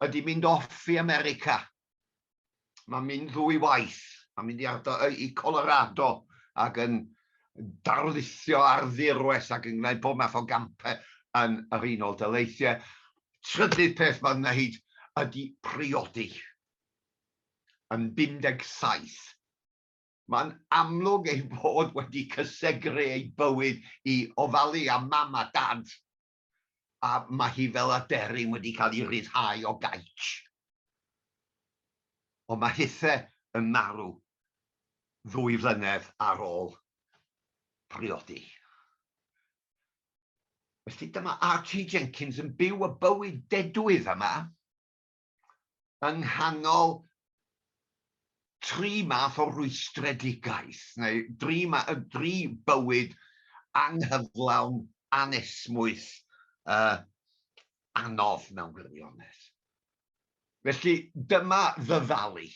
ydy mynd off i America Mae'n mynd ddwy waith. Mae'n mynd i ardal i Colorado ac yn darlithio ar ddirwest ac yn gwneud bob math o gampau yn yr Unol Daleithiau. Trydydd peth mae'n wneud ydy priodi yn 57. Mae'n amlwg ei fod wedi cysegru ei bywyd i ofalu am mam a dad. a mae hi fel aderyn wedi cael ei ryddhau o gaets. Ond mae Hithe yn marw ddwy flynedd ar ôl priodi. Felly dyma RT Jenkins yn byw y bywyd dedwydd yma. yng nghanol tri math o rwystredigaeth, neu dri ma- yy dri bywyd anghyflawn, anesmwyth, yy anodd mewn gwirionedd. Felly dyma ddyfalu.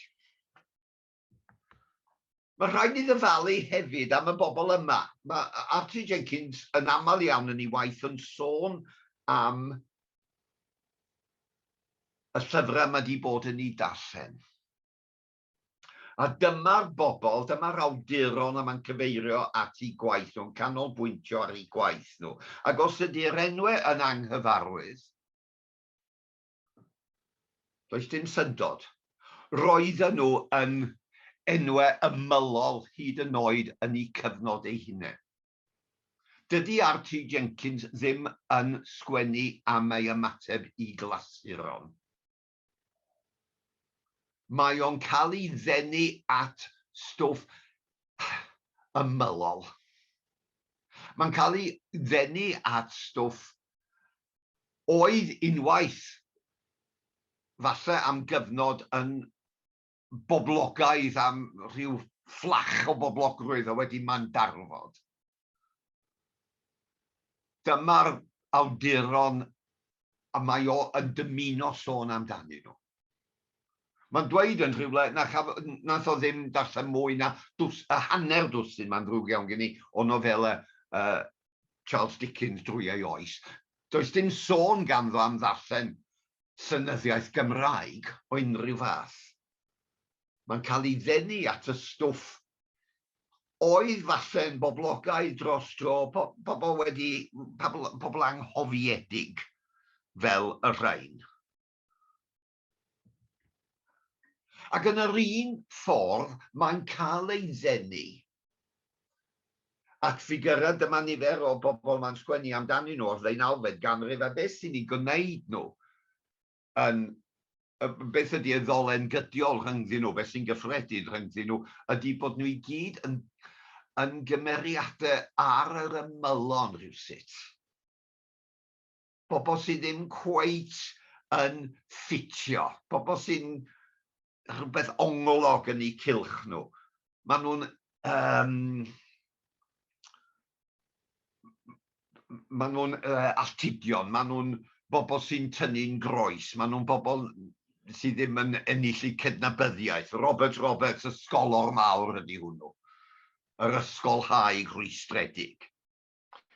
Mae rhaid ni ddyfalu hefyd am y bobl yma. Mae Archie Jenkins yn aml iawn yn ei waith yn sôn am y llyfrau mae wedi bod yn ei darllen. A dyma'r bobl, dyma'r awduron a mae'n cyfeirio at ei gwaith nhw'n canolbwyntio ar ei gwaith nhw. Ac os ydy'r enwau yn anghyfarwydd, Does dim syndod. Roedden nhw yn enwau ymylol hyd yn oed yn eu cyfnod eu hunain. Dydy RT Jenkins ddim yn sgwennu am ei ymateb i glasuron. Mae o'n cael ei ddenu at stwff ymylol. Mae'n cael ei ddenu at stwff oedd unwaith, falle am gyfnod, yn boblogaidd am rhyw fflach o boblogrwydd a wedi mandarfod. Dyma'r awduron y mae o yn dymuno sôn amdanyn nhw. Mae'n dweud yn rhywle na chaf- wnaeth o ddim darllen mwy na dws- hanner dwsin, mae'n ddrwg iawn gen i, o nofelau Charles Dickens drwy ei oes, does dim sôn ganddo am ddarllen llenyddiaeth Gymraeg o unrhyw fath. Mae'n cael ei ddenu at y stwff oedd falle'n boblogaidd dros dro, pobl wedi, pobl anghofiedig fel y rhain. Ac yn yr un ffordd, mae'n cael ei ddenu at ffigyrau, dyma nifer o bobl mae'n sgwennu amdanyn nhw o'r ddeunawfed ganrif, a beth sy'n eu gwneud nhw yn, beth ydy y ddolen gydiol rhyngddyn nhw, beth sy'n gyffredin rhyngddyn nhw, ydy bod nhw i gyd yn yn gymeriadau ar yr ymylon rhywsut. bobl sydd ddim cweit yn ffitio, pobl sy'n rhywbeth ongolog yn eu cylch nhw. Maen nhw'n um, maen nhw'n uh, alltudion, maen nhw'n bobl sy'n tynnu'n groes, maen nhw'n bobl sydd ddim yn ennill eu cydnabyddiaeth. Robert Roberts, ysgolor mawr ydy hwnnw, yr ysgolhaig rhwystredig.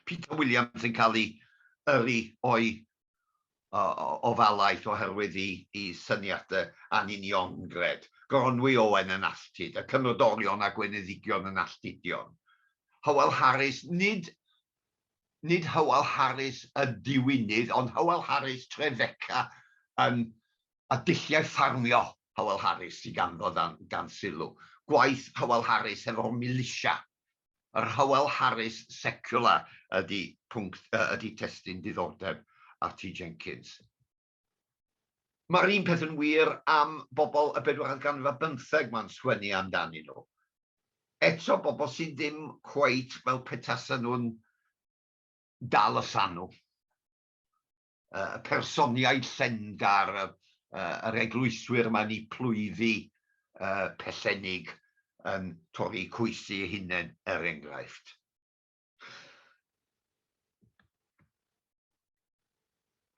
Peter Williams yn cael ei yrru o'i ofalaeth oherwydd ei syniadau anuniongred, Gronwy Owen yn alltud, y Cynrodorion a Gweinyddigion yn alltudion, Hywel Harris, nid nid Hywel Harris y diwinydd, ond Hywel Harris Trefeca yn y dulliau ffarmio Hywel Harris sydd ganddo dan sylw, gwaith Hywel Harris hefo'r milisia Yr Hywel Harris Secular ydy pwnc ydy testun diddordeb Archie Jenkins. Mae'r un peth yn wir am bobl y bedwaredd ganrif ar bymtheg mae'n sgwennu amdanyn nhw. Eto, bobl sydd ddim cweit fel petasen nhw'n dal y llanw. y personniaid llengar, yr eglwyswyr mae'n eu plwyddu pellennig yn torri coesi eu hunain, er enghraifft.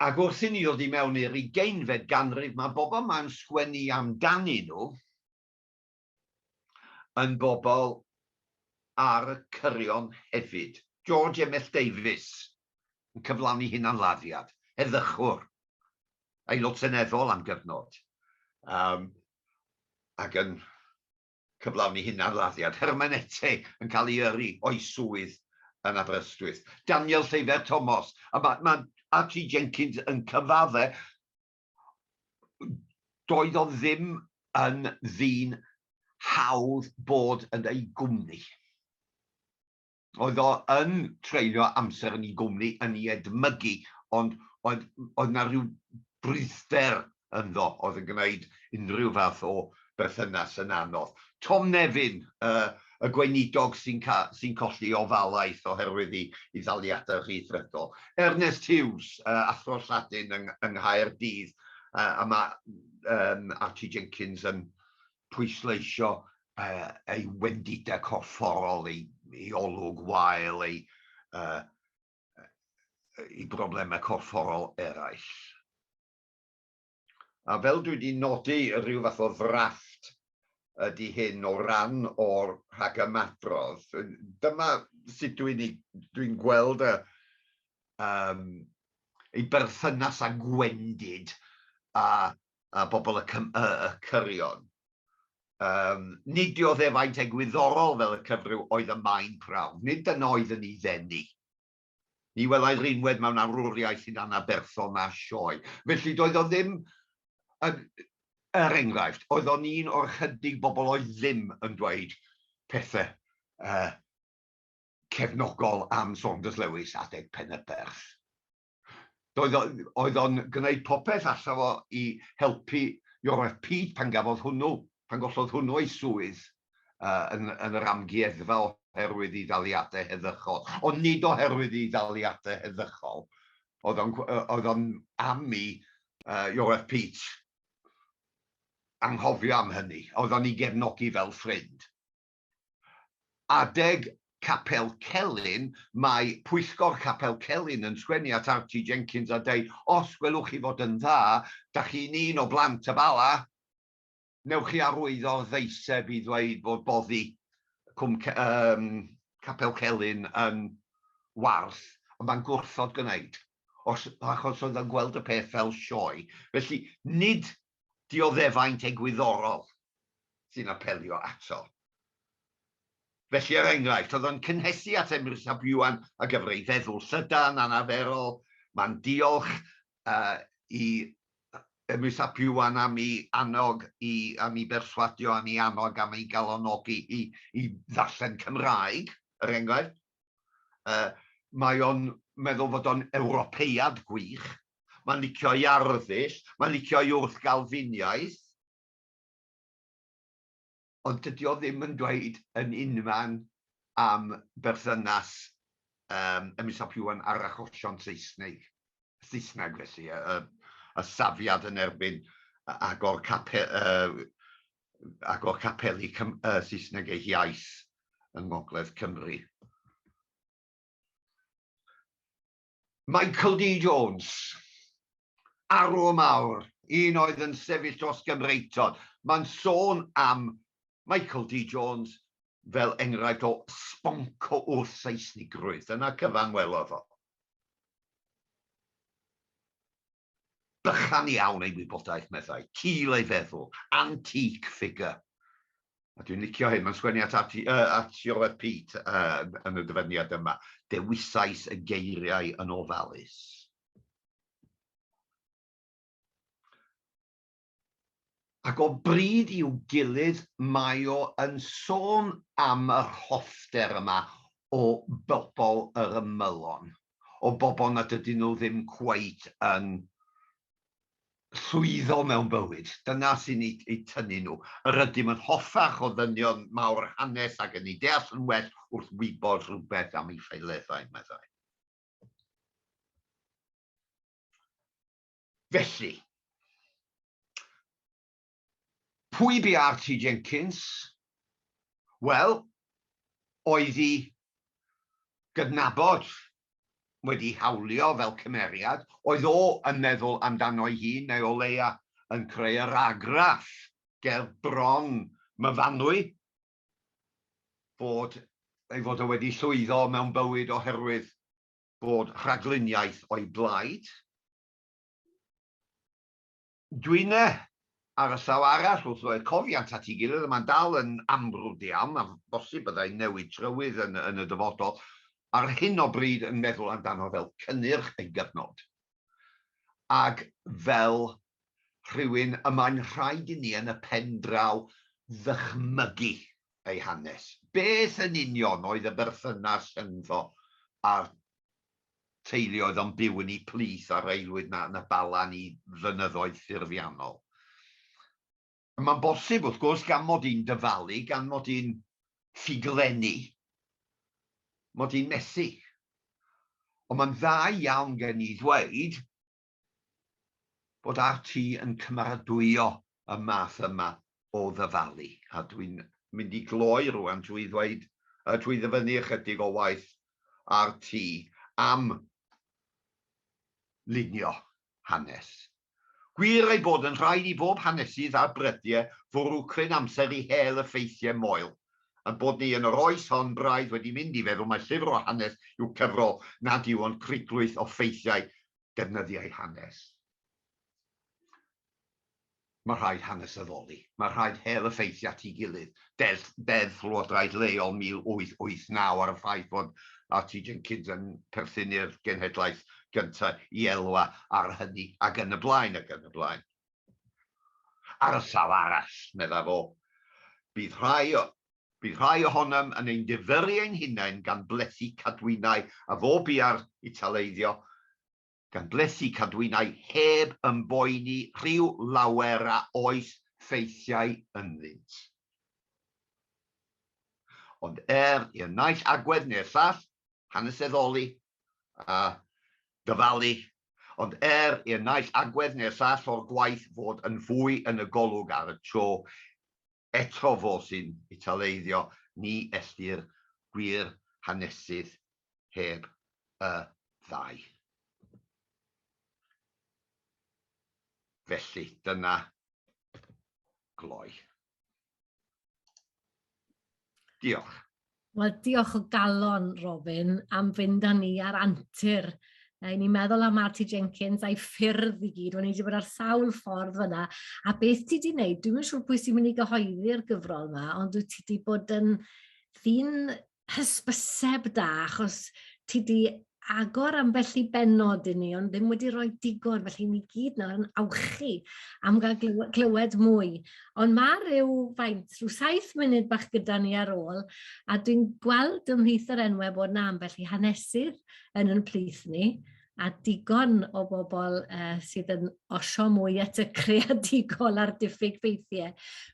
Ac wrth i ni oedd i mewn i'r ugeinfed ganrif, mae bobl mae'n sgwennu amdanyn nhw, yn bobl ar y cyrion hefyd. George Emmet Davies yn cyflawni hunanladdiad, heddychwr, Aelod Seneddol am gyfnod, yym, ac yn cyflawni hunanladdiad, hermeneteg, yn cael ei yrru o'i swydd yn Aberystwyth. Daniel Seibert Thomas, a mae RT Jenkins yn cyfadde doedd o ddim yn ddyn hawdd bod yn ei gwmni. Oedd o yn treulio amser yn ei gwmni, yn ei edmygu, ond oedd, oedd na rhyw bryder ynddo, oedd yn gwneud unrhyw fath o berthynas yn anodd. Tom Nevin, y gweinidog sy'n colli ofalaeth oherwydd ei ddaliadau rhyddfrydol. Ernest Hughes, athro Lladin yng Nghaerdydd, a mae Archie Jenkins yn pwysleisio ei wendidau corfforol, ei olwg wael, ei broblemau corfforol eraill. A fel dwi 'di nodi, rhyw fath o ddrafft ydi hyn o ran o'r rhagymadrodd. Dyma sut dwi'n ei... dwi'n gweld y yym ei berthynas â gwendid a a bobl y cym- y y cyrion. Yym nid diodd e faint egwyddorol fel y cyfryw oedd y mae'n prawf, nid dyna oedd yn ei ddeni. Ni welai Rheinwedd mewn awrwriaeth hyd anaf berthon a sioe. Felly, doedd o ddim yn, er enghraifft, oedd o'n un o'r chydig bobl oedd ddim yn dweud pethau uh, cefnogol am Saunders Lewis adeg Penyberth. Doedd o, oedd o'n gwneud popeth allaf o i helpu Iorwerth Pete pan gafodd hwnnw, pan gollodd hwnnw ei swydd yn yn yr amgueddfa oherwydd ei ddaliadau heddychol. Ond nid oherwydd ei ddaliadau heddychol oedd o'n oedd o'n am i Iorwerth Pete anghofio am hynny. Oedd o'n ei gefnogi fel ffrind. Adeg Capel Celyn, mae Pwyllgor Capel Celyn yn sgwennu at Archie Jenkins a deud, Os gwelwch chi fod yn dda, da chi'n un o blant y Bala, newch chi arwyddo'r ddeiseb i ddweud bod boddi Cwm Ce-, yym, Capel Celyn yn warth, ond mae'n gwrthod gwneud, os, achos oedd o'n gweld y peth fel sioe. Felly, nid dioddefaint egwyddorol sy'n apelio ato. Felly, er enghraifft, oedd o'n cynhesu at Emrys ap Iwan a gyfer ei feddwl llydan, anaferol, mae'n diolch uh, i Emrys ap Iwan am ei annog i, am ei berswadio, am ei annog, am ei galonogi i, i ddarllen Cymraeg, er enghraifft. mae o'n meddwl fod o'n Ewropeaidd gwych, mae'n licio ei arddull, mae'n licio ei wrth-Galfiniaeth, ond dydy o ddim yn dweud yn unman am berthynas y Misop Iwan a'r achosion Seisnig, Saesneg felly, y safiad yn erbyn agor ac o capeli Saesneg eu hiaith yng Ngogledd Cymru. Michael D. Jones, arwr mawr, un oedd yn sefyll dros Gymreictod. Mae'n sôn am Michael D. Jones fel enghraifft o sbonco wrth Saesnigrwydd. Dyna cyfan welodd o. Bychan iawn ei wybodaeth, meddai. Cul ei feddwl. Antique figure. A dwi'n licio hyn, mae'n sgwennu at Archie, uh, at Siolet Pete uh, yn y dyfyniad yma. Dewisais y geiriau yn ofalus. Ac o bryd i'w gilydd mae o yn sôn am yr hoffter yma o bobl yr ymylon, o bobl nad ydyn nhw ddim cweit yn llwyddo mewn bywyd, dyna sy'n eu tynnu nhw. Yr ydym yn hoffach o ddynion mawr hanes ac yn eu deall yn well wrth wybod rhywbeth am eu ffaeleddau, meddai. Felly, pwy bu RT Jenkins? Wel, oedd i gydnabod wedi hawlio fel cymeriad, oedd o yn meddwl amdano'i hun neu o leia yn creu yr argraff ger bron Myfanwy fod ei fod o wedi llwyddo mewn bywyd oherwydd bod rhagluniaeth o'i blaid. Dwi'n e, ar y llaw arall, wrth roi'r cofiant at ei gilydd, y mae'n dal yn amrwd iawn, a bosib byddai'n newid trywydd yn, yn y dyfodol, ar hyn o bryd yn meddwl amdano fel cynnyrch ei gyfnod, ac fel rhywun y mae'n rhaid i ni yn y pen draw ddychmygu. ei hanes. Beth yn union oedd y berthynas rhyngddo a'r teulu oedd o'n byw yn eu plith ar aelwyd na na Balan i fynyddoedd ffurfiannol? Mae'n bosib, wrth gwrs, gan mod i'n dyfalu, gan mod i'n ffuglenni, mod i'n methu. Ond mae'n dda iawn gen i ddweud bod RT yn cymeradwyo y math yma o ddyfalu, a dwi'n mynd i gloi rŵan drwy ddweud, drwy ddyfynnu ychydig o waith RT am lunio hanes. Gwir ei bod yn rhaid i bob hanesydd a brydie fwrw cryn amser i hel y ffeithie moel, a'n bod ni yn yr oes hon braidd wedi mynd i feddwl mai llyfr o hanes yw cyfrol nad yw ond criglwyth o ffeithiau defnyddiau hanes. Mae rhaid hanes addoli. Mae rhaid hel y ffeithiau at ei gilydd. Deddf, Deddf Llywodraeth Leol 1889 ar y ffaith fod RT Jenkins yn perthyn i'r genhedlaeth gyntaf i elwa ar hynny, ac yn y blaen, ac yn y blaen. Ar y llaw arall, meddai fo, bydd rhai Bydd rhai ohonom yn ein difyrru ein hunain gan blethu cadwynau a fo biau'r Italeiddio, gan blethu cadwynau heb ymboeni rhyw lawer a oes ffeithiau ynddynt. Ond er i'r naill agwedd neu'r llall haneseddoli a dyfalu, ond er i'r naill agwedd neu'r llall o'r gwaith fod yn fwy yn y golwg ar y tro, Eto fo sy'n Italeiddio, ni ellir gwir hanesydd heb y ddau. Felly, dyna gloi. Diolch. Wel, diolch o galon, Robin, am fynd â ni ar antur. Ni'n ni meddwl am Marty Jenkins a'i ffyrdd i gyd, o'n i wedi bod ar sawl ffordd fyna. A beth ti wedi gwneud, dwi'n yn siŵr pwy sy'n mynd i gyhoeddi'r gyfrol yma, ond wyt ti wedi bod yn ddyn hysbyseb da, achos ti wedi agor ambell i bennod i ni, ond ddim wedi rhoi digon, felly ni gyd nawr yn awchu am gael glywed mwy. Ond mae rhyw faint, rhyw saith munud bach gyda ni ar ôl, a dwi'n gweld ym mhlith yr enwau bod na ambell i hanesydd yn yn plith ni, a digon o bobl uh, sydd yn osio mwy at y creadigol a'r diffyg ffeithiau.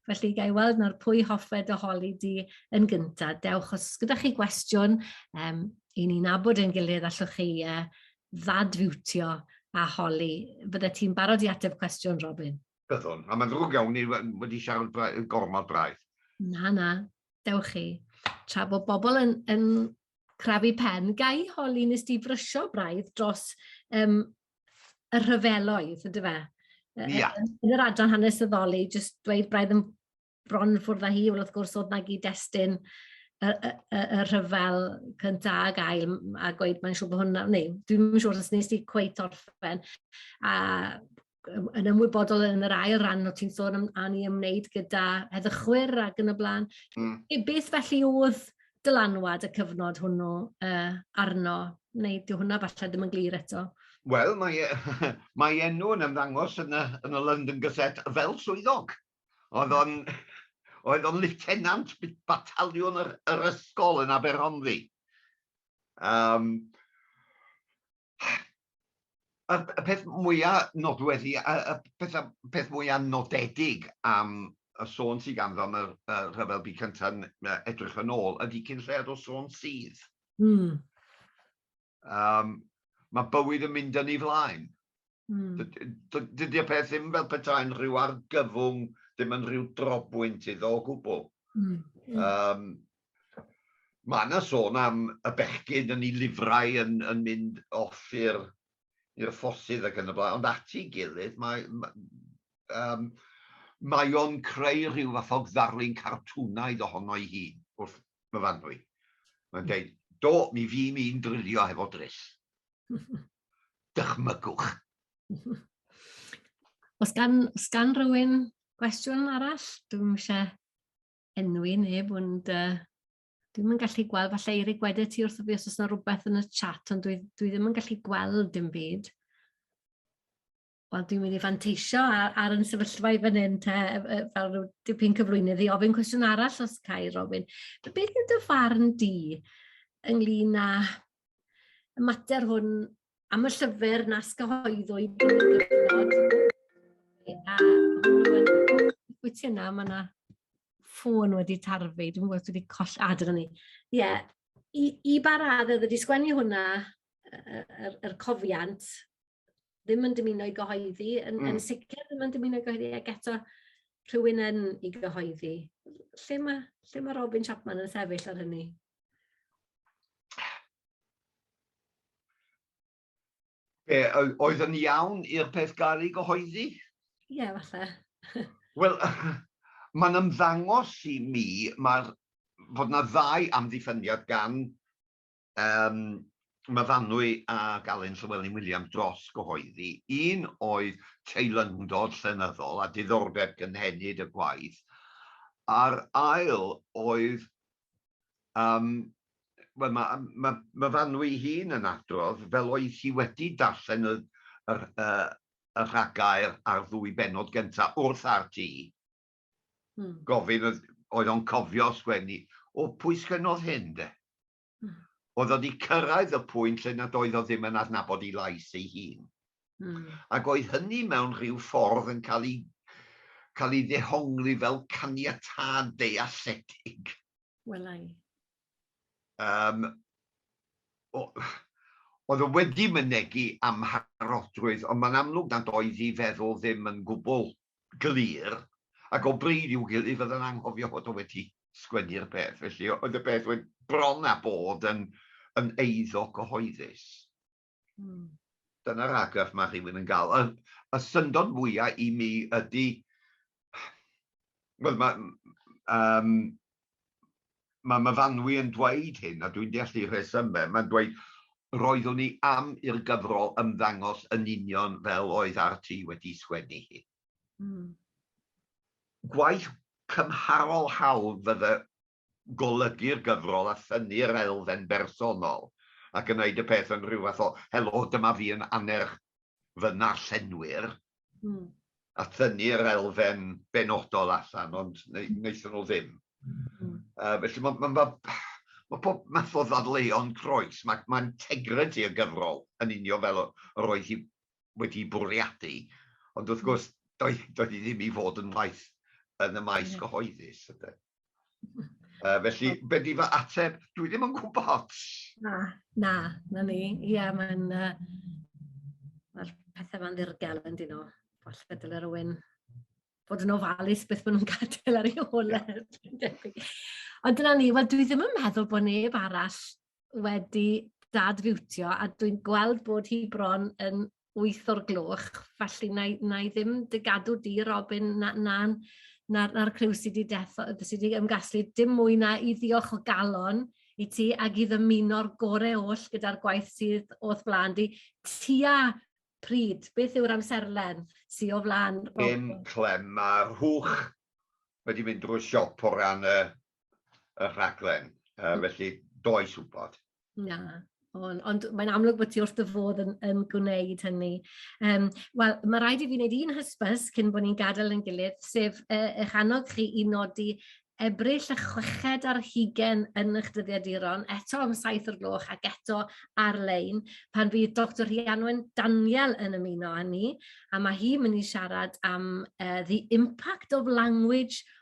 Felly, gai weld nawr pwy hoffed o holi di yn gyntaf. Dewch, os gyda chi gwestiwn, um, i ni nabod ein gilydd, allwch chi uh, ddadfiwtio a holi. Bydde ti'n barod i ateb cwestiwn, Robin? Byddwn, a mae'n ddrwg iawn, ni wedi siarad gormod braidd. Na, na, dewch chi. Tra bod bobl yn, yn crafu pen, gai holi nes di frysio braidd dros um, y rhyfeloedd, ydy fe? Yeah. Yn yr adran hanesyddoli, jyst dweud braidd yn bron yn ffwrdd â hi, wel wrth gwrs oedd na gyd-destun y, y, y, y rhyfel cynta a gael a gweud mae'n siŵr bod hwnna, neu dwi'n yn siŵr os nes i cweith orffen, a yn ymwybodol yn yr ail ran o ti'n sôn am a ni ymwneud gyda heddychwyr ac yn y blaen. Mm. E, beth felly oedd dylanwad y cyfnod hwnnw uh, arno, neu dyw hwnna falle ddim yn glir eto? Wel, mae, e, mae enw yn ymddangos yn y, yn y London Gazette fel swyddog. oedd o'n liwtenant bataliwn yr ysgol yn Aberhonddu. Um, y, y peth mwyaf nodweddi, y, y peth, peth mwyaf nodedig am y sôn sydd ganddo am y, y rhyfel byd cyntaf edrych yn ôl ydy cyn lled o sôn sydd. Mm. Um, mae bywyd yn mynd yn ei flaen. Mm. Dydy y peth ddim fel petai'n rhyw argyfwng, ddim yn rhyw drobwynt iddo o gwbl. Mm. Um, mae yna sôn am y bechgyn yn ei lifrau yn, yn mynd off i'r ffossydd ac yn y blaen, ond at ei gilydd mae, mae, um, mae o'n creu rhyw fath o ddarlun cartwnaidd ohono ei hun wrth, fy fanwy. Mae'n dweud, do, mi fi'n i'n drilio hefo dryll. Dychmygwch. Os gan, os gan rhywun gwestiwn arall, dwi'n eisiau enwi neb, ond uh, dwi'n yn gallu gweld, falle i Eirig wedi ti wrth y fi os oes yna rhywbeth yn y chat, ond dwi, dwi ddim yn gallu gweld dim byd. wel, dwi'n mynd i fanteisio ar, ar yn sefyllfa i fan hyn, te, fel rhyw dipyn cyflwynydd i ofyn cwestiwn arall os cael ei ofyn. Beth yw dy farn di ynglyn â y mater hwn am y llyfr nas gyhoeddwyd drwy'r gyfnod? A wyt ti yna, mae yna ffôn wedi tarfu, dwi'n gwybod wedi coll adr ni. Ie, yeah. i, i ba radd oedd wedi sgwennu hwnna, yr, yr cofiant, ddim yn dymuno i gyhoeddi, yn, mm. yn hmm. sicr ddim yn dymuno i gyhoeddi, ac eto rhywun yn i gyhoeddi. Lle mae, lle mae Robin Chapman yn sefyll ar hynny? Be, oedd yn iawn i'r peth gael ei gyhoeddi? Ie, yeah, falle. Wel, mae'n ymddangos i mi mae'r fod yna ddau amddiffyniad gan Yym, Myfanwy ac Alun Llywelyn Williams dros gyhoeddi, un oedd teilyngdod llenyddol a diddordeb cynhenid y gwaith, a'r ail oedd, yym, wel, mae ma, Myfanwy ei hun yn adrodd fel oedd hi wedi darllen y, y, y rhagair a'r ddwy bennod gyntaf wrth RT, Hmm. Gofyn oedd, oedd o'n cofio sgwennu, o pwy sgwennodd hyn de? Hmm. Oedd o wedi cyrraedd y pwynt lle nad oedd o ddim yn adnabod ei lais ei hun. Hmm. Ac oedd hynny mewn rhyw ffordd yn cael ei, cael ei ddehongli fel caniatad dealledig. Welai. Um, oedd o wedi mynegu amharodrwydd, ond mae'n amlwg nad oedd ei feddwl ddim yn gwbl glir ac o bryd i'w gilydd fyddan anghofio fod o wedi sgwennu'r peth, felly oedd y peth wed bron a bod yn yn eiddo cyhoeddus. Mm. Dyna'r argraff mae rhywun yn gael. Y, y syndod fwyaf i mi ydy... Wel, mae... Um, mae Myfanwy yn dweud hyn, a dwi'n deall ei rhesymau, mae'n dweud, roeddwn i am i'r gyfrol ymddangos yn union fel oedd RT wedi sgwennu hi. Mm. Gwaith cymharol hawdd fydde golygu'r gyfrol a thynnu'r elfen bersonol a gwneud y peth yn rhyw fath o 'helo, dyma fi yn annerch fy narllenwyr', mm. a thynnu'r elfen benodol allan, ond wnaethon nhw ddim. Mm. Uh, felly mae ma, ma, ma pob math o ddadleuon croes, mae ma integrity y gyfrol yn unio fel yr oedd hi wedi bwriadu, ond wrth gwrs, doedd, doedd hi ddim i fod yn waith yn y maes cyhoeddus. Ydyn. Uh, felly, be di fy ateb? Dwi ddim yn gwybod. Na, na, na ni. Ia, mae'n... Uh, Mae'r pethau ma'n ddirgel yn dyn nhw. Falle dyle rhywun fod yn ofalus beth maen nhw'n gadael ar ei hôl. Ond dyna ni, wel dwi ddim yn meddwl bod neb arall wedi dad-fiwtio a dwi'n gweld bod hi bron yn wyth o'r gloch, felly na i, na i ddim dy gadw di, Robin, na, na, na'r, na criw sydd wedi deffo, sydd wedi ymgasglu, dim mwy na i ddiolch o galon i ti ac i ddymuno'r gorau oll gyda'r gwaith sydd o'th blaen di. Tia pryd, beth yw'r amserlen sydd o flaen? Dim clem, mae rhwch wedi mynd drwy siop o ran y y rhaglen, yy felly does wybod. Na, ond, ond mae'n amlwg bod ti wrth dy fodd yn, yn gwneud hynny. Um, Wel, mae rhaid i fi wneud un hysbys cyn bod ni'n gadael yn gilydd, sef uh, eich annog chi i nodi ebryll a chweched ar hugen yn eich dyddiaduron, eto am saith o'r gloch ac eto ar-lein, pan fydd Dr Rhianwen Daniel yn ymuno â ni, a mae hi mynd i siarad am uh, the impact of language